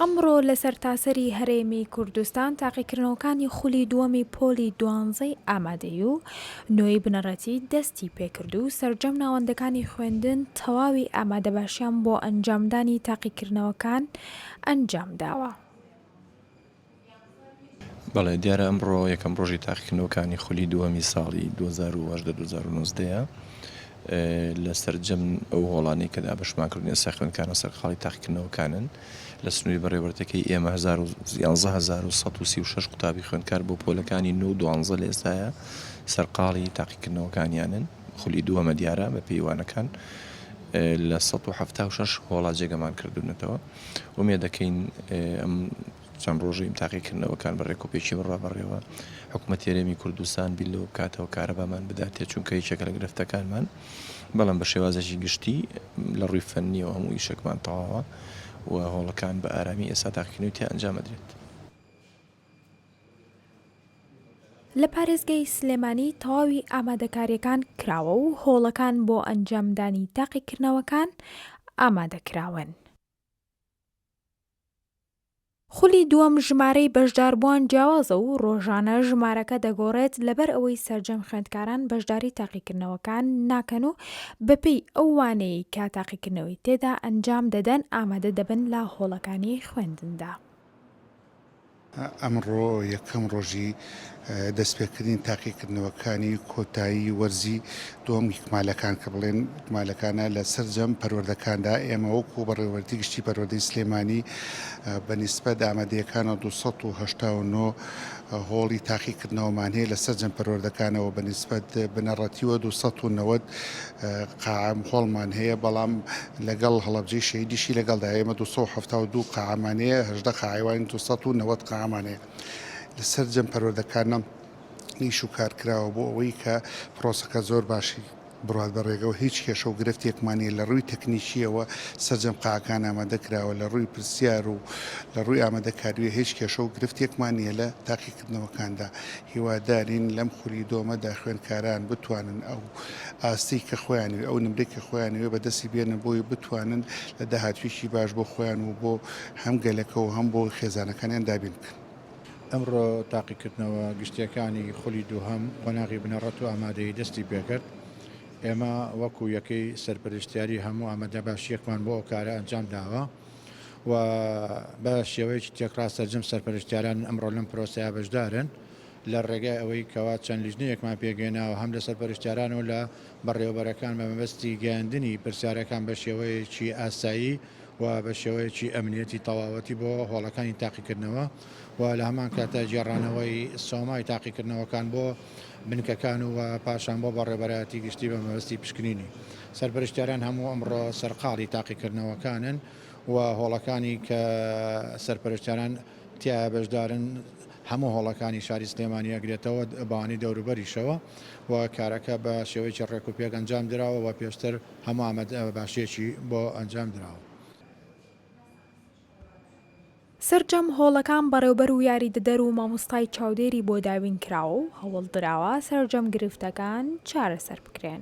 ئەمڕۆ لە سەرتاسەری هەرێمی کوردستان تاقیکردنەوەکانی خولی دووەمی پۆلی دوانزەی ئامادەی و نۆی بنەڕەتی دەستی پێکرد و سەرجەم ناوەندەکانی خوێندن تەواوی ئامادەباشیان بۆ ئەنجامدانی تاقیکردنەوەکان ئەنجام داوە. بەڵێ دیارە ئەمڕۆ یەکەم ڕۆژی تاقیکردنەوەکانی خولی دووەمی ساڵی 2019 لە سەرجەم ئەو هۆڵانەی کە دابشمان کردن ئێستا خوێنکانە سەرقاڵی تاقیکردنەوەکانن لە سنووری بەڕێوەرتەکەی ئێمە 1136 قوتابی خوێنکار بۆ پۆلەکانی نو دوانزە لە ئێستاە سەرقاڵی تاقیکردنەوەکانیانن خولی دووەمە دیارە بە پێیوانەکان لە 1970 هۆڵا جێگەمان کردوونەتەوە. ئومێدەکەین ئەم چەند ڕۆژەی تاقیکردنەوەکان بە ڕێکوپێکی بڕوا بەڕێوە حکوومەتی رێمی کوردستان بیر لەوە بکاتەوە کارەبامان بداتێ چونکە یەکێکە لە گرفتەکانمان بەڵام بە شێوازەشی گشتی لە ڕووی فەننیەوە هەموو ئیشێکمان تەواوە و هۆڵەکان بە ئارامی ئێستا تاقیکردنەوەی تیا ئەنجامەدرێت. لە پارێزگای سلێمانی تەواوی ئامادەکارییەکان کراوە و هۆڵەکان بۆ ئەنجامدانی تاقیکردنەوەکان ئامادەکراون. خولی دووەم ژمارەی بەشداربووان جیاوازە و ڕۆژانە ژمارەکە دەگۆڕێت لەبەر ئەوەی سەرجەم خوێندکاران بەشداری تاقیکردنەوەکان ناکەن و بەپێی ئەو وانەیەی کە تاقیکردنەوەی تێدا ئەنجام دەدەن ئامادە دەبن لە هۆڵەکانی خوێندندا. ئەمڕۆ یەکەم ڕۆژی دەستپێکردنی تاقیکردنەوەکانی کۆتایی وەرزی دووەم ئیکمالەکان کە بڵێن ئیکمالەکانە لە سەرجەم پەروەردەکاندا ئێمە وەکو بەڕێوەردی گشتی پەروەردەی سلێمانی بە نیسبەت ئامادەیەکانەوە 289 هۆڵی تاقیکردنەوەمان هەیە لە سەرجەم پەروەردەکانەوە بە نیسبەت بنەڕەتیوە 290 قاعە مخۆڵمان هەیە بەڵام لەگەڵ هەڵەبجەی شەهیدیشی لەگەڵدا ئێمە دوو سەد و حەفتا و دوو قاعەمان هەیە هەژدە قاعەی وان دوو سەد و نەوەد قاعەمان هەیە لە سەرجەم پەروەردەکانە ئیش و کار کراوە بۆ ئەوەی کە پرۆسەکە زۆر باشی بڕوات بە ڕێگەوە هیچ کێشە و گرفتێکمان نییە لە ڕووی تەکنیکیەوە سەرجەم قاعەکان ئامادە کراوە لە ڕووی پرسیار و لە ڕووی ئامادەکاریوە هیچ کێشە و گرفتێکمان نییە لە تاقیکردنەوەکاندا هیوادارین لەم خولی دۆمەدا خوێندکاران بتوانن ئەو ئاستێی کە خۆیانەوێ، ئەو نمرەی کە خۆیانەوێ بە دەستی بێنن بۆی بتوانن لە داهاتوویەکی باش بۆ خۆیان و بۆ هەم گەلەکە و هەم بۆ خێزانەکانیان دابین بکەن. ئەمڕۆ تاقیکردنەوە گشتییەکانی خولی دووهەم قۆناغی بنەڕەت و ئامادەیی دەستی پێکرد، ئێمە وەکو یەکەی سەرپەرشتیاری هەموو ئامادەباشییەکمان بۆ ئەو کارە ئەنجامداوە و بە شێوەیەکی تێکڕا سەرجەم سەرپەرشتیاران ئەمڕۆ لەم پرۆسەیە بەشدارن. لە ڕێگای ئەوەی کەوا چەند لیژنەیەکمان پێکهێناوە هەم لە سەرپەرشتیاران و لە بەڕێوەبەرەکان بە مەبەستی گەیاندنی پرسیارەکان بە شێوەیەکی ئاسایی و بە شێوەیەکی ئەمنیەتی تەواوەتی بۆ هۆڵەکانی تاقیکردنەوە و لە هەمان کاتدا گێڕانەوەی سۆمای تاقیکردنەوەکان بۆ بنکەکان و پاشان بۆ بەڕێوەبەرایەتی گشتی بە مەبەستی پشکنینی سەرپەرشتیاران هەموو ئەمڕۆ سەرقاڵی تاقیکردنەوەکانن و هۆڵەکانی کە سەرپەرشتیاران تیایا بەشدارن هەموو هۆڵەکانی شاری سلێمانی ئەگرێتەوە بەوانی دەوروبەریشەوە و کارەکە بە شێوەیەکی ڕێک و پێک ئەنجام دراوە و پێشتر هەموو ئامادە باشیەکی بۆ ئەنجام دراوە. سەرجەم هۆڵەکان بەڕێوبەر و یاریدەدەر و مامۆستای چاودێری بۆ دابین کراوە و هەوڵ دراوە سەرجەم گرفتەکان چارەسەر بکرێن.